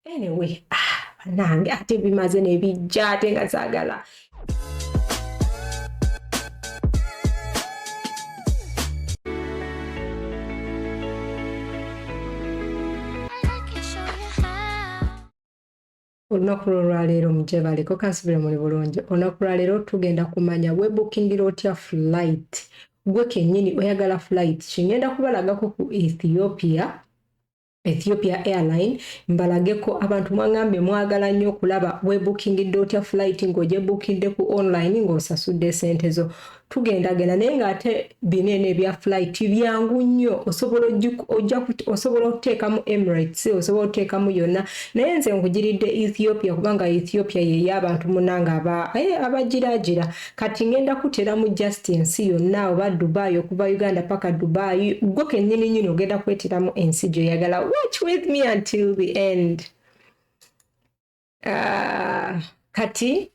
anyway ah, banange ate bimaze nebijja ate nga zagala olunaku lwolwaleero mujebaleko kansubire muli bulungi olunaku lwaleero tugenda kumanya webukingira otya flight gwe kenyini oyagala flight kingenda kubalagako ku ethiopia Ethiopia Airline mbalageko abantu mwangambye mwagala nnyo okulaba webuukingidde otya flight ng'ogyebuukidde ku online ng'osasudde esente zo tugendagenda naye ng'ate bino eno ebya flight byangu nnyo osobola osobola okuteekamu emirates osobola okuteekamu yonna naye nze nkugiridde ethiopia kubanga ethiopia yeyo abantu munange abagiraagira eh, kati ngenda kuteramu just ensi yonna oba dubai okuva uganda paka dubai gwe kenyini nyini ogenda kweteramu ensi gyoyagala watch with me until the end uh, kati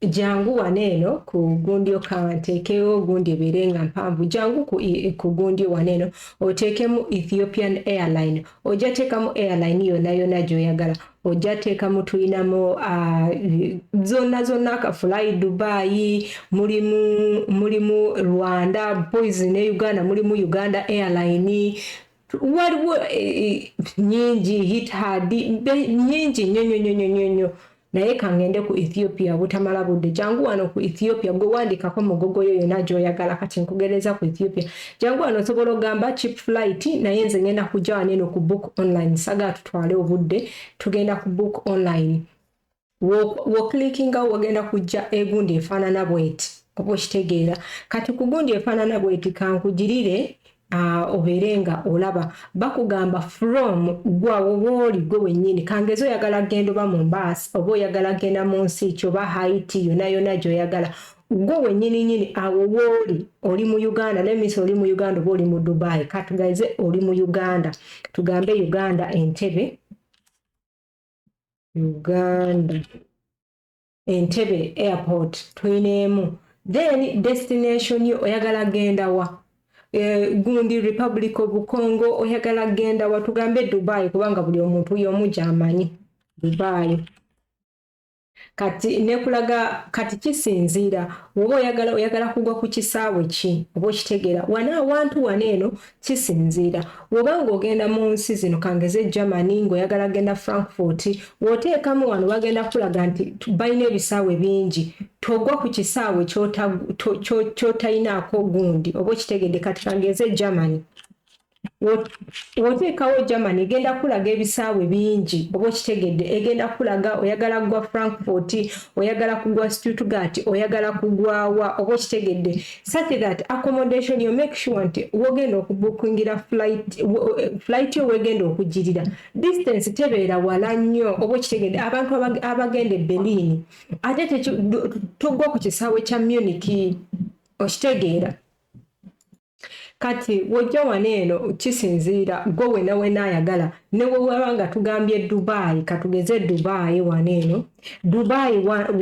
jangu wano eno ku gundi okawa nteekewo gundi ebeere nga mpanvu jangu ku, ku gundi wano eno oteekemu ethiopian airline ojja teekamu airline yonna yonna gyoyagala ojja teekamu tulinamu ah, zonna zonna akafulayi dubayi mulimu mulimu rwanda boys ne uganda mulimu uganda airline waliwo eh, eh, nyingi hithad nyingi nyonyonyonyonyo naye kangende ku ethiopia butamala budde jangu wano ku ethiopia gwe wandikako mugogo yo yona gyoyagala kati nkugereza ku ethiopia jangu wano osobola ogamba chip flight naye nze ngenda kujja waneno ku book online sagatu twale obudde tugenda ku book online woklikinga wo wagenda kujja egundi efaanana bweti oba okitegeera kati ku gundi efaanana bweti kankugirire Ah, obeere nga olaba bakugamba from gwawo wooli gwe wennyini kangezi oyagala genda oba mu mbaasi oba oyagala genda mu nsi kyoba haiti yona yona gyoyagala gwe wenyini nyini awo wooli oli mu uganda nemis oli mu uganda oba oli mu dubai katugaize oli mu uganda tugambe uganda entebe uganda entebe airport tuyineemu then destination yo oyagala genda wa Eh, gundi republic of congo oyagala genda watugambe dubai kubanga buli omuntu yomu gyamanyi dubai kati nekulaga kati kisinziira woba oyagala oyagala kugwa ku kisaawe ki oba okitegeera wana awantu wana eno kisinziira woba ng'ogenda mu nsi zino kangeze germany ng'oyagala genda frankfort woteekamu wano bagenda kulaga nti balina ebisaawe bingi togwa ku kisaawe kyotayinaako gundi oba okitegedde kati kangeze germany woteekawo germany egenda kulaga ebisaawe bingi oba okitegedde egenda kulaga oyagala kugwa frankfort oyagala kugwa stuttgart oyagala kugwawa oba okitegedde such that accommodation yo make sure nti wogenda okubukingira flight yo wegenda okugirira distance tebeera wala nnyo oba okitegedde abantu abagenda e berlin ate togwa ku kisaawe kya muniki okitegeera kati wojja wano eno kisinziira gwe wena wena ayagala newewaba nga tugambye dubayi katugeze dubayi wano eno dubayi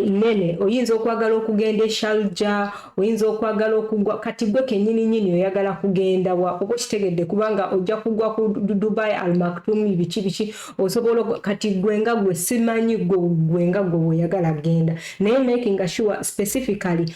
nene oyinza okwagala okugenda eshalja oyinza okwagala okugwa kati gwe kenyini nyini oyagala kugenda wa oba okitegedde kubanga ojja kugwa ku dubayi almaktumi biki biki osobola kati gwe nga gwe simanyi gwe nga gwe weyagala kugenda naye makinga sure specifically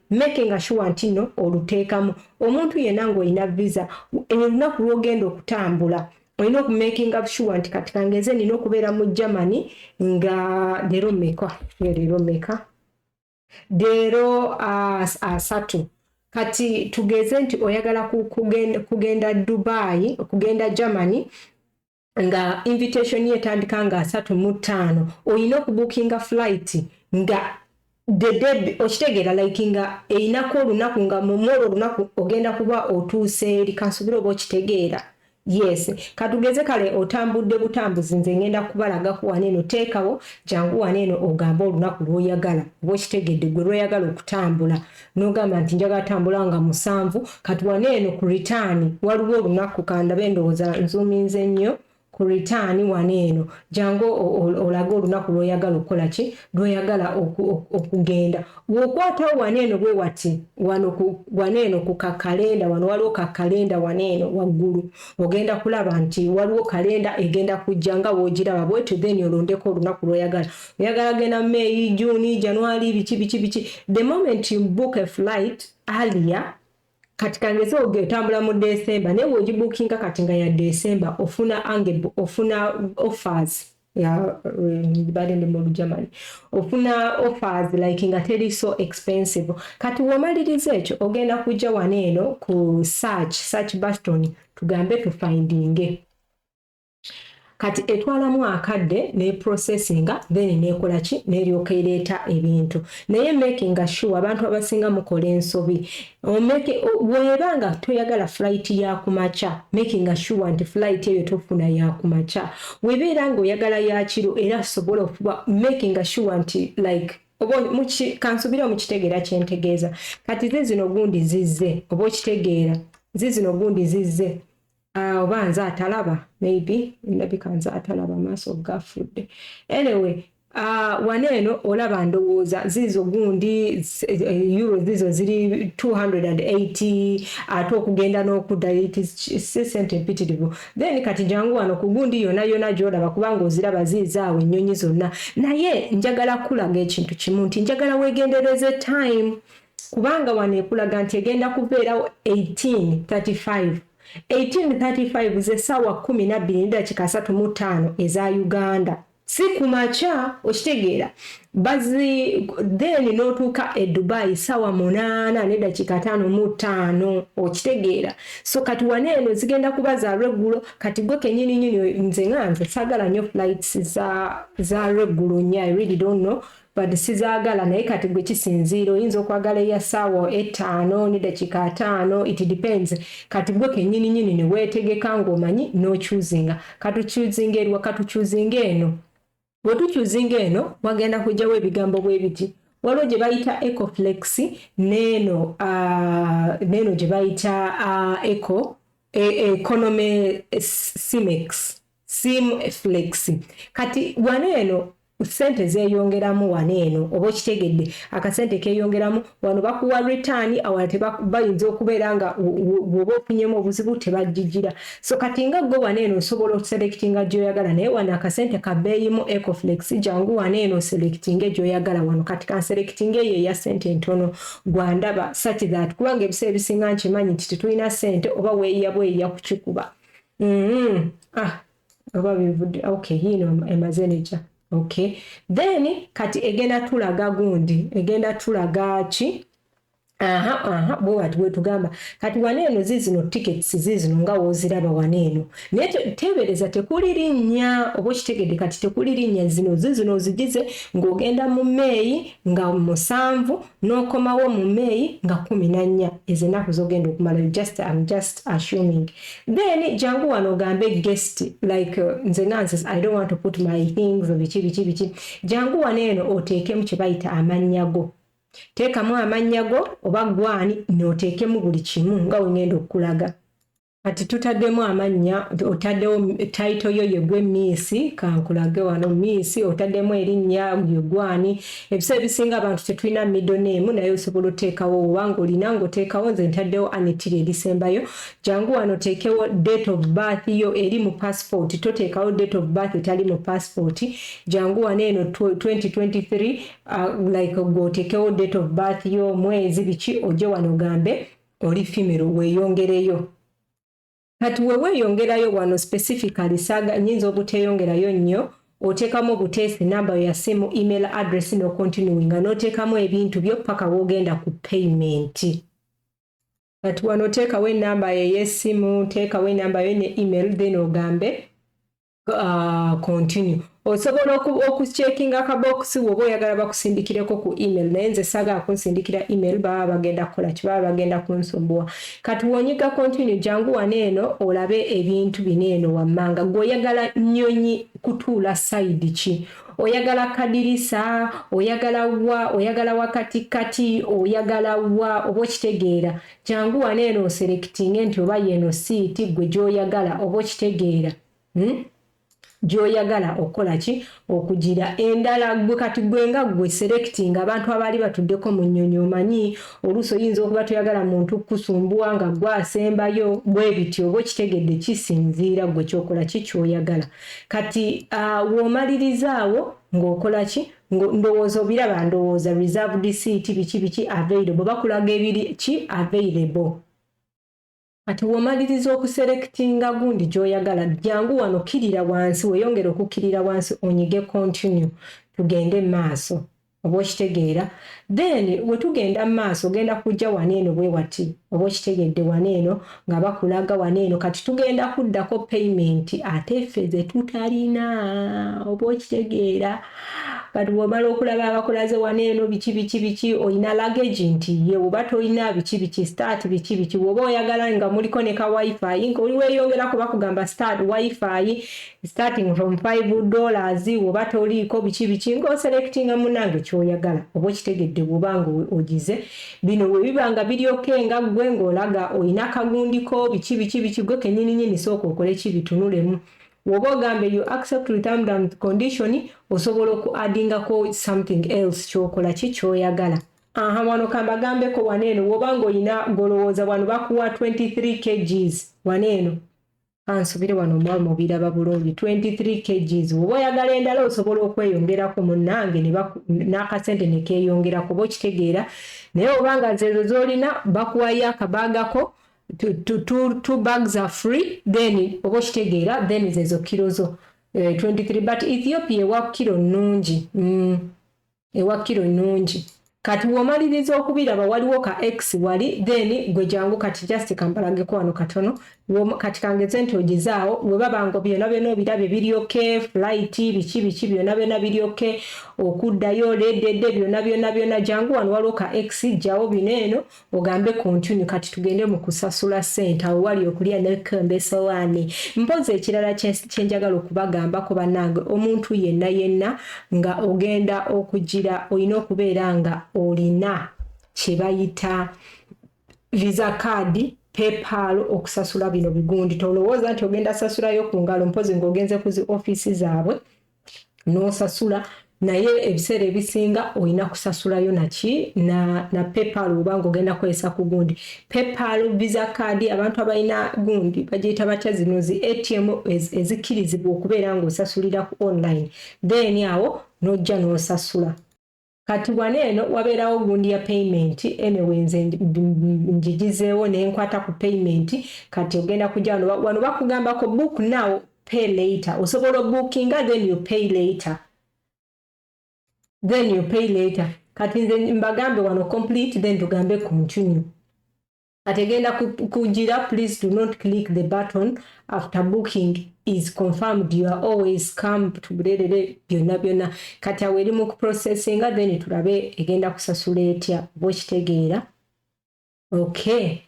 making sure nti no oluteekamu omuntu yenna ng'olina visa olunaku lw'ogenda okutambula olina okumakinga sure nti kati kangenze nina okubeera mu germany nga leero meka leero meka leero asatu kati tugeze nti oyagala kugenda dubai okugenda germany nga invitation ye etandika nga asatu mu ttaano olina okubukinga flight nga dedeb okitegeera like nga eyinako olunaku nga mumwolo olunaku ogenda kuba otuuse eri kansubira oba okitegeera yes katugeze kale otambudde butambuzi nze ngenda kubalagako wano eno teekawo jangu wano eno ogambe olunaku lwoyagala oba okitegedde gwe lwoyagala okutambula nogamba nti njagala tambula nga musanvu kati wana eno ku return waliwo olunaku kandabe endowooza nzuminze nnyo ku return wana eno jangu olage olunaku lwoyagala okukola ki lwoyagala okugenda wokwatawo wana eno bwe wati wana eno ku kakalenda wano waliwo kakalenda wana eno waggulu ogenda kulaba nti waliwo kalenda egenda kujja nga wogiraba bwetyo then olondeko olunaku lwoyagala oyagala genda may june january biki biki biki the moment you book a flight earlier kati kangeze ogetambula mu december naye weogibookinga kati nga ya december ofuna ange ofuna offers bade ndi mu germany ofuna offers like nga teri so expensive kati womaliriza ekyo ogenda kujja wano eno ku search search baston tugambe tufindinge kati etwalamu akadde ne processinga then nekola ki neryoka ereeta ebintu naye making sure abantu abasinga mukola ensobi bweba nga toyagala flight ya kumakya making sure nti flight eyo tofuna ya kumakya webeera nga oyagala yakiro era sobola okuba making sure nti like oba kansubire omukitegeera kyentegeeza kati ze zino gundi zizze oba okitegeera ze zino gundi zizze Ah, oba nze atalaba maybe ndabika nze atalaba amaaso gafudde anyway Uh, wano eno olaba ndowooza ziizo gundi eh, euro ziizo ziri 280 ate okugenda n'okuddayo sente empitirivu then kati jangu wano ku gundi yona yona gyolaba kubanga oziraba ziiza awo ennyonyi zonna naye njagala kulaga ekintu kimu nti njagala wegendereze time kubanga wano ekulaga nti egenda kubeerawo 1835 1835 ze ssaawa kkumi nabbiri ne ddakiika asatu mu ttaano eza uganda si ku makya okitegeera bazi then n'otuuka e dubai ssaawa munaana ne ddakiika taano mu ttaano okitegeera so kati wana eno zigenda kuba za lweggulo kati gwe kenyini nyini nze nga nze saagala nnyo flights za lweggulo nnyo i really don't know But sizagala naye kati gwe kisinziira oyinza okwagala eya sawa etaano ne dakiika ataano it depends kati gwe kenyini nyini ne wetegeka nga omanyi no choosinga katu choosinga eriwa katu choosinga eno wetu choosinga eno wagenda kujawo ebigambo bwe biti waliwo gye bayita ecoflex neeno uh, neeno gye bayita uh, eco e, economy simex sim flex kati wano eno sente zeyongeramu wano eno oba okitegedde akasente keyongeramu wano bakuwa return awala tebayinza okubeera nga woba ofunyemu obuzibu tebajijira so kati nga gwe wano eno osobola oselectinga gyoyagala naye wano akasente kabeeyimu ecoflex jangu wano eno oselectinge gyoyagala wano kati kanselectinga eyo eya sente entono gwandaba such that kubanga ebiseera ebisinga nkimanyi nti tetulina sente oba weeyiya bweyiya kukikuba mm-hmm. ah oba bivudde okay yiino emaze nekya okay then kati egenda tulaga gundi egenda tulaga ki aha aha bwewati bwetugamba kati wana eno zizino tickets zizino nga woziraba wana eno naye tebereza tekuli linnya oba okitegedde kati tekuli linnya zino zizino ozigize ng'ogenda mu meeyi nga musanvu nokomawo mu may nga kumi nanya ezo enaku zogenda okumalayo just am just assuming then jangu wano ogambe guest like uh, nze nga nze i don't want to put my things biki biki biki jangu wano eno oteekemu kyebayita amannya go teekamu amannya go oba gwani noteekemu buli kimu nga wengenda okulaga kati tutaddemu amannya otaddewo tayito yo yegwe miisi kankulage wano miisi otaddemu erinnya yegwani ebiseera ebisinga abantu tetulina middle name naye osobola oteekawo obanga olina ngaoteekawo nze ntaddewo anitiri erisembayo jangu wano oteekewo date of birth yo eri mu passport toteekawo date of birth etali mu passport jangu wano eno 2023 uh, like gwoteekewo date of birth yo mwezi biki oje wano gambe oli female weyongereyo kati weweyongerayo wano specifically saga nyinza obuteyongerayo nnyo otekamu obuteesi namba yo yasimu email address no continuing nga notekamu ebintu byo paka wogenda ku payment kati wano otekawo enamba yo eyesimu tekawo enamba yo ne email then ogambe uh, continue osobola okucekinga akabokisi woba oyagala bakusindikireko ku email naye nze sagala kunsindikira email baba bagenda kukola kibaba bagenda kunsumbuwa kati wonyiga continue jangu wane eno olabe ebintu bino eno wammanga gwe oyagala nyonyi kutuula sayidi ki oyagala kadirisa oyagala wa oyagala wakati kati oyagala wa oba okitegeera Kyangu wano eno oselekitinge nti oba yeno siiti gwe gyoyagala oba okitegeera hmm? gyoyagala okukola ki okugira endala gwe kati gwe nga gwe selekitinga abantu abaali batuddeko mu nnyonyi omanyi oluusi oyinza okuba toyagala muntu kukusumbuwa nga gwe asembayo bwe bityo oba okitegedde kisinziira gwe kyokola ki kyoyagala kati uh, woomaliriza awo ng'okola ki ngo ndowooza obiraba ndowooza reserved seat biki biki available bakulaga ebiri ki available kati womaliriza okuselectinga gundi gyoyagala jangu wano kirira wansi weyongere okukirira wansi onyige continue tugende maaso oba okitegeera then wetugenda maaso ogenda kujja wano eno bwewati oba okitegedde wano eno nga bakulaga wano eno kati tugenda kuddako payment ate ffe ze tutalina oba okitegeera kati bwomala okulaba abakulaze wano eno biki biki biki olina lagage nti ye oba tolina biki biki start biki biki woba oyagala nga muliko ne ka wifi nga oli weyongera kuba kugamba start wifi starting from 5 dollars oba toliiko biki biki ngaoselectinga munange kyoyagala oba okitegedde bwobanga ogize bino webiba nga biri oke nga gwe ngaolaga olina kagundiko biki biki biki gwe kenyininyini sooka okole ki bitunulemu woba ogambe you accept retamdam condition osobola oku addingako something else kyokola ki kyoyagala aha wano kambagambeko wano eno woba ngaolina golowooza wano bakuwa 23 kgs wano eno kansubire wano omwami obiraba bulungi 23 kgs oba oyagala endala osobola okweyongerako munange n'akasente nekeyongera kuba okitegeera naye oba nga zeezo zolina bakuwayo akabagako two bags are free then oba okitegeera then zeezo kiro zo 23 eh, but ethiopia ewa kiro nnungi mm. ewa kilo nungi kati womaliriza okubiraba waliwo ka x wali then gwe jangu kati just kambalageko wano katono kati kangeze nti ogizaawo webaba ngo byona byona obirabye biri ok flight biki biki byona byona biri ok okuddayo ledede byona byona byona jangu wano waliwo ka x jjawo bino eno ogambe continue kati tugende mu kusasula sente awo wali okulya nekomba esowaani mpozi ekirala kyenjagala okubagambako banange omuntu yenna yenna nga ogenda okugira olina okubeera nga olina kyebayita visa kaadi paypal okusasula bino bigundi tolowooza nti ogenda sasulayo ku ngalo mpozi ngaogenze ku zi ofiisi zaabwe n'osasula naye ebiseera ebisinga olina kusasulayo naki na, na paypal obanga ogenda kukozesa ku gundi paypal visa card abantu abalina gundi bagiyita batya zino zi atm ezikkirizibwa okubeera ng'osasulira ku online then awo n'ojja n'osasula kati wano eno wabeerawo gundi ya payment anyway nze njigizeewo ne nkwata ku payment kati ogenda kujja wano wano bakugambako book now pay later osobola obookinga then you pay later then you pay later kati nze mbagambe wano complete then tugambe continue kati egenda kujira please do not click the button after booking is confirmed you are always come to bulelele byonna byonna kati awo eri mu kuprocessinga then tulabe egenda kusasula etya oba okitegeera okay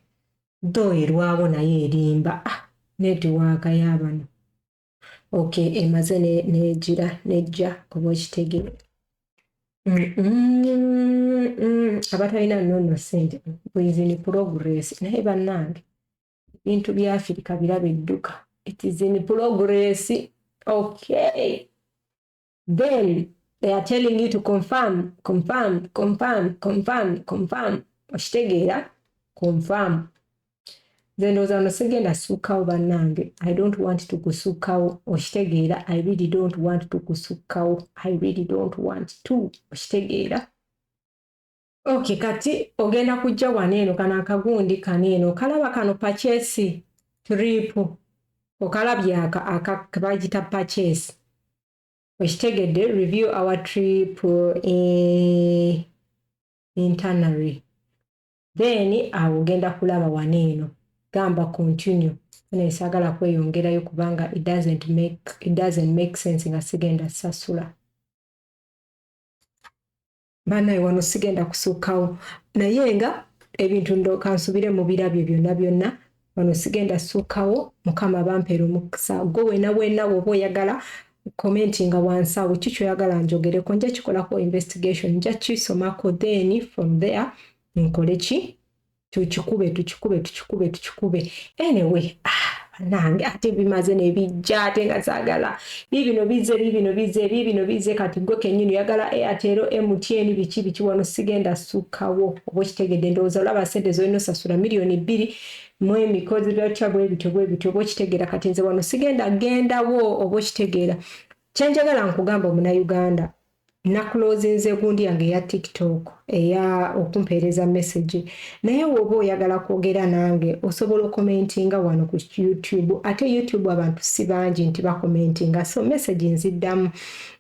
dho erwawo naye erimba ah netiwaaka yabano okay emaze nejira nejja oba okitegeera abatalina nono sente bwezini progress naye bannange ebintu bya afirika biraba edduka it is in progress okay then they are telling you to confirm confirm confirm confirm confirm okitegeera confirm nze ndowooza wano sigenda sukkawo bannange i don't want to kusukkawo okitegeera i really don't want to kusukkawo i really don't want to okitegeera Okay, kati ogenda kujja wano eno kano akagundi kano eno okalaba kano pachesi tripu okalabye akabagita pachesi okitegedde review our trip e internary then awo ogenda kulaba wano eno gamba continue ene sagala kweyongerayo kubanga it doesn't make, it doesn't make sense nga sigenda sasula banaye wano sigenda kusukkawo naye nga ebintu ndoka nsubire mu birabyo byonna byonna wano sigenda sukkawo mukama bampeera omukisa gwe wena wena woba oyagala commentinga wansi awo ki kyoyagala njogereko nja kikolako investigation nja kisomako then from there nkole ki tukikube tukikube tukikube tukikube anyway ah, nange ate bimaze nebijja ate nga zagala bibino bize bibino bize bibino bize kati gwe kenyini oyagala eyatero mtn biki biki wano sigenda sukawo oba okitegedde ndowooza olaba sente zolina osasula miliyoni bbiri mu emikozi byotya bwebityo bwebityo oba okitegera kati nze wano sigenda gendawo oba okitegeera kyenjagala nkugamba omunauganda nakulozinze gundi yange eya tiktok eya okumpeereza message naye woba oyagala kwogera nange osobola okomentinga wano ku youtube ate youtube abantu si bangi nti bakomentinga so message nziddamu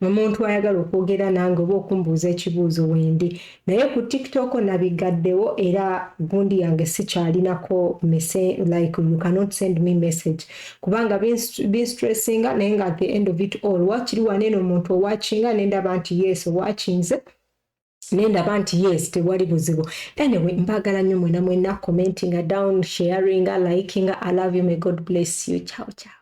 omuntu ayagala okwogera nange oba okumbuuza ekibuuzo wendi Naye ku TikTok nabiggaddewo era gundi yange sikyalinako mese like you cannot send me message kubanga binstressinga naye nga at the end of it all wakiri waneeno omuntu owakinga nendaba nti yes owakinze nendaba nti yes tewali buzibu anyway mbagala nnyo mwena mwena commentinga down sharinga likinga i love you may god bless you ciao ciao